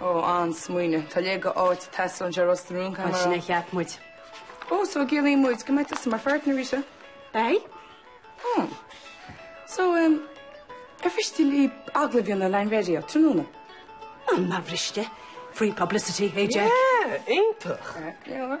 Ó, an-smaoineamh. Tá a leithéid d'áit ag teastáil anseo i Ros na Rún, Cameron. Ansin a cheap muid. Ó, so an gciallaíonn muid go mbeidh tusa mar pháirtnéir arís? Beidh. Ó. So, em, ar mhiste libh agallamh a dhéanamh linn ar an raidió, tráthnóna? An mba mhiste? Free publicity, hey Jack. Yeah, iontach. Go leor.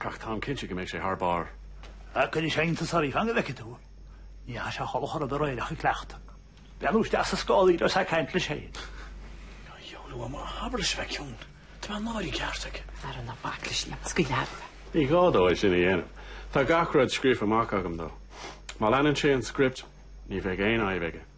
Ach táim cinnte go mbeidh sé thar barr. Á, cuirfidh sé iontas oraibh, fan go bhfeicfidh tú, ní fhaca sé sholas rud ar aoireach ag cleachtadh. Breathnú isteach sa scáthán agus ag caint leis féin. Ag iomadh liom a thabairt is bheith ciúin, tá mé náirithe ceart aige. Ara ná bac leis an scoil leabhar. Ní gá dó é sin a dhéanamh. Tá gach rud scríofa amach agam dó. Má leanann sé an script, ní bheidh aon fhadhb aige.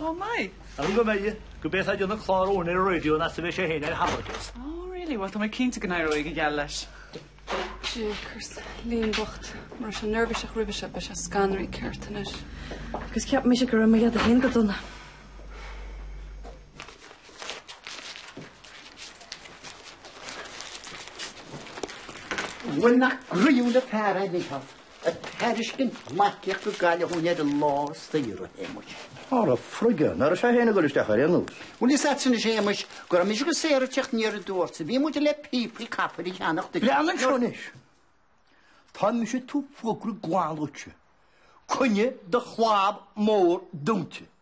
Oh my! Ar go mbeidh, go mbeidh sé ag déanamh clár amháin ar an raidió ná sa bheidh sé fhéin ar a thalamh agus. Oh really? Bhuel tá mé cinnte go n-éireoidh go geal leis. Jakers. Liam bocht. Mura raibh sé neirbhíseach roimhe seo, beidh sé scanraithe ceart anois. Agus cheap mise go raibh mo dheaide fhéin go dona. Bhuel nach gnaíúil an fear é Liam. Ag tairiscint marcaíocht go Gaillimh dhúinn ar a lá saoire, Shéamuis. Ara frig é, nach raibh sé féin ag dul isteach ar aon nós. Bhuel, is ait sin, a Shéamuis, go raibh mise go saor ag teacht aniar aduaidh ortsa. Bhí muid le píopaí capaill a cheannach duit. Breathnaigh anseo anois. Tá mise ag tabhairt fógra glan duitse. Coinnigh do chlab mór dúnta.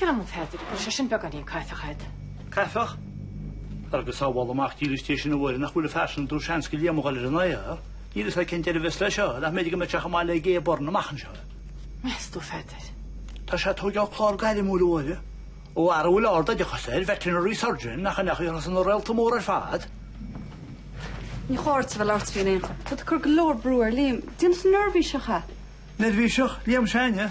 Ceapaim, a Pheadair, go bhfuil sé sin beagáinín caifeach a'd. Caifeach? Á go sábhála Mac dílis Dé sinn, a Mháire, nach bhfuil an fear sin ag dul seans go léann mo dhoiléir in aghaidh air. Níl fhios agam cén deireadh a bheas leis seo, nach mb'fhéidir go mbeidh tú chomh maith le Gay Byrne amach anseo. Meas tú, Pheadair? Tá sé ag tógáil clár gairmiúil, a Mháire, ó fhear a bhfuil ard-oideachas air, veterinary surgeon, nach fhanfadh aon chos na réalta mór ar fad. Ní chóir sa bhfuil ort féin aon chor. Tá tú ag cur go leor brú ar Liam. Déanfaidh tú neirbhíseach é. Neirbhíseach? Liam s'againne?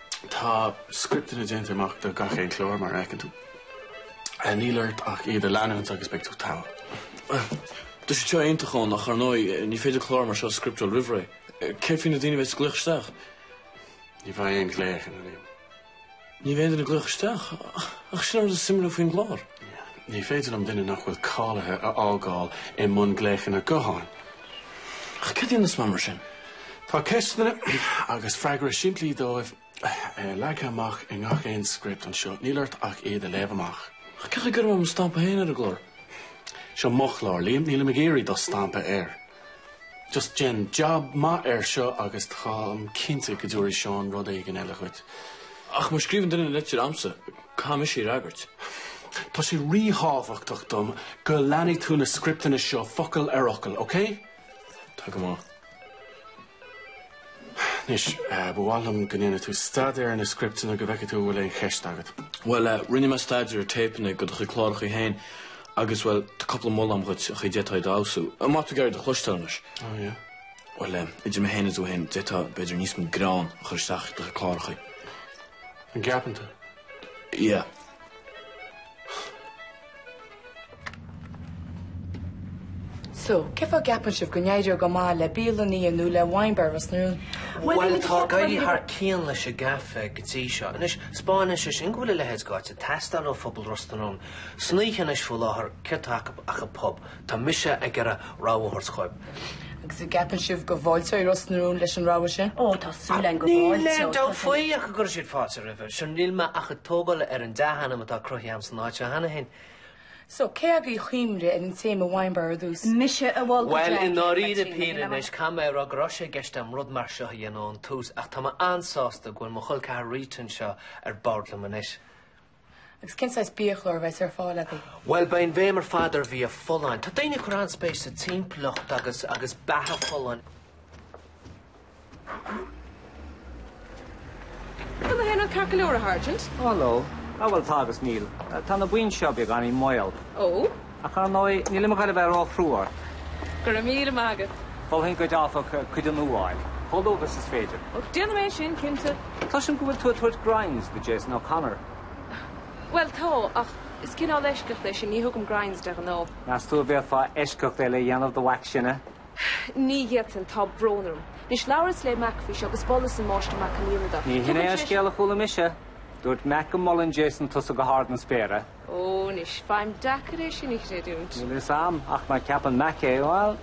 Tá scripteanna déanta amach do gach aon chlár, mar a fheiceann tú. Níl ort ach iad a leanúint agus beidh tú togha. Bhuel, tá siad seo iontach ann ach, ar ndóigh, ní féidir clár mar seo a scripteáil roimh ré. Céard faoi na daoine a bheas ag glaoch isteach? Ní bheidh aon ghlaochanna, Liam. Ní bheidh aon duine ag glaoch isteach? Ach sin an rud is suimiúla faoin gclár. Ní féidir liom duine nach bhfuil cáilithe a fhágáil i mbun glaochanna gutháin. Ach céard a dhéanfas mé mar sin? Tá ceisteanna agus freagra simplí dóibh leagtha amach i ngach aon script anseo, níl ort ach iad a léamh amach. Ach cén chaoi a gcuirfidh mé mo stampa féin ar an gclár? Seo mo chlár, Liam, nílim ag iarraidh do stampa air. Just déan jab maith air seo agus táim cinnte go dtiúrfaidh Seán rud éigin eile dhuit. Ach má scríobhann duine litir a'msa? Caithfidh mise iad a fhreagairt. Tá sé ríthábhachtach dom go leanfaidh tú na scripteanna seo focal ar fhocal, okay? Tá go maith. Anois, ba mhaith liom go ndéanfaidh tú staidéar ar na scripteanna go bhfeicfidh tú an bhfuil aon cheist agat. Bhuel, rinne mé staidéar ar téipeanna de do chuid clárachaí féin agus, bhuel, tá cúpla moladh agam dhuit a d'fhéadfá iad a fheabhsú. An mbeidh tú ag iarraidh iad a chloisteáil anois? Oh, yeah. Bhuel, idir mé féin is tú féin, d'fhéadfá, b'fhéidir, níos mó greann a chur isteach i do chuid clárachaí. An gceapann tú? Yeah. So, cé fáth a gceapann sibh go n-éireoidh go maith le bialann fhíona nó le wine bar i Ros na Rún? Bhuel, tá ag éirí thar cionn leis an gcaife go dtí seo. Anois, 'spáineann sé sin go bhfuil a leithéid d'áit ag teastáil ó phobal Ros na Rún, san oíche anois faoi láthair, céard tá acu ach an pub. Tá mise ag iarraidh rogha a thabhairt dhóibh. Agus an gceapann sibh go bhfáilteoidh Ros na Rún leis an rogha sin? Ó, tá súil againn go bhfáilteoidh. Níl aon dabht faoi ach go gcuirfidh siad fáilte roimhe. Sea, níl mé ach ag tógáil ar an dea-ainm atá cruthaithe a'm san áit seo cheana féin. So, cé agaibh a chuimhnigh ar an téama wine bar ar dtús? Mise, a mhol go dea-cinnte Bhuel, i ndáiríre píre anois, caithfidh mé a rá go raibh sé i gceist a'm rud mar seo a dhéanamh ón tús ach tá mé an-sásta go bhfuil mo chol ceathar Rita anseo ar bord liom anois. Agus cén saghas biachlár a bheas ar fáil agaibh? Bhuel, beidh an bhéim ar fad ar bhia folláin. Tá daoine ag cur an-spéis sa timpeallacht agus agus beatha folláin. Gach éinní ceart go leor a Shergeant? Hello. Á bhuel tá agus níl. Tá na boinn seo beagáinín maol. Ó? Ach ar ndóigh, nílim ag dul a bheith ró-chrua ort. Go raibh míle maith agat. Mholfainn duit, áfach, cuid nua a fháil, chomh luath agus is féidir. Och, déanfaidh mé sin, cinnte. Cloisim go bhfuil tú ag tabhairt grinds do Jason O'Connor. Bhuel, tá, ach is cineál eisceacht é sin, ní thugaim grinds de ghnáth. Meas tú a bhféadfá eisceacht eile a dhéanamh do Mhac s'againne? Ní fhéadfainn, tá brón orm. Anois, labhras le Mac faoi seo agus mholas an Máistir Mac an Fhíona dó. Ní hin é an scéal a chuala mise. Dúirt Mac go molann Jason tusa go hard na spéire. Ó, anois, faighim deacair é sin a chreidiúint. Níl a fhios a'm, ach má cheapann Mac é, bhuel,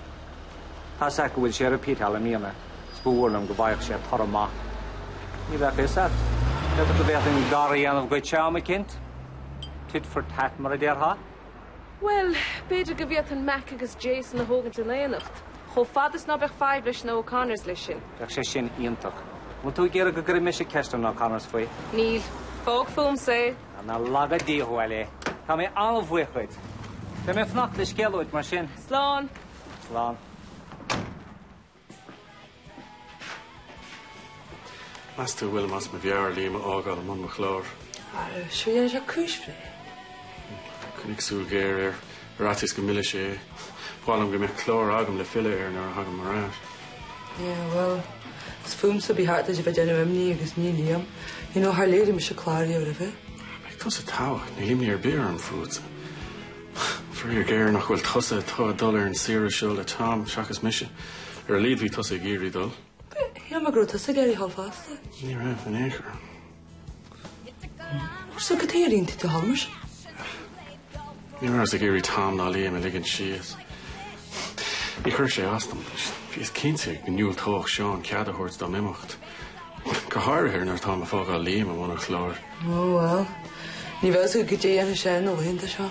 tá's a'd go bhfuil sé ag repeatáil i mbliana, 's ba mhór liom go bhfaigheadh sé toradh maith. Ní bheadh a fhios a'd. B'fhéidir go bhféadfainn gar a dhéanamh dhuitse am eicínt. Tit for tat mar a déarfá. Bhuel, b'fhéidir go bhféadfainn Mac agus Jason a thógaint in éineacht, chomh fada is ná beadh fadhb leis na O'Connors leis sin. Bheadh sé sin iontach. An bhfuil tú ag iarraidh go gcuirfidh mise ceist ar na O'Connors faoi? Níl. Fág fúmsa é. Nár laga Dia thú. Bhuel. Tá mé an-bhuíoch dhuit. Beidh mé ag fanacht le scéal uait mar sin. Slán. Slán. Meas tú go bhfuilim as mo mheabhair Liam a fhágáil i mbun mo chlár? Sea, déanfaidh sé cúis bhreá. Coinnigh súil ghéar air. Ar fhaitíos go millfeadh sé. Ba mhaith liom go mbeadh clár agam le filleadh air nuair a thagaim ar ais. Yeah, well, is fúmsa ba cheart duit a bheith ag déanamh imní agus ní Liam. You know, char léirigh mise clár riamh roimhe. Beidh tusa togha, níl imní ar bith orm fútsa. Faraor géar nach bhfuil tusa atá ag dul ar an saoire seo le Tom, seachas mise. Ar a laghad bhí tusa ag iarraidh dul. Shíl mé go raibh tusa ag iarraidh dhul fosta. Ní raibh, in aon chor. Ach so cad chuige ar aontaigh tú dhul mar sin. Ní rabhas ag iarraidh Tom ná Liam a ligean síos. Níor chuir sé as dom. Bhíos cinnte go ndiúltódh Seán cead a thabhairt dom imeacht. Go háirithe nuair atáim ag fágáil Liam i mbun an chláir. Ó bhuel. Ní bheadh a fhios agat goidé a dhéanfadh sé na laethanta seo.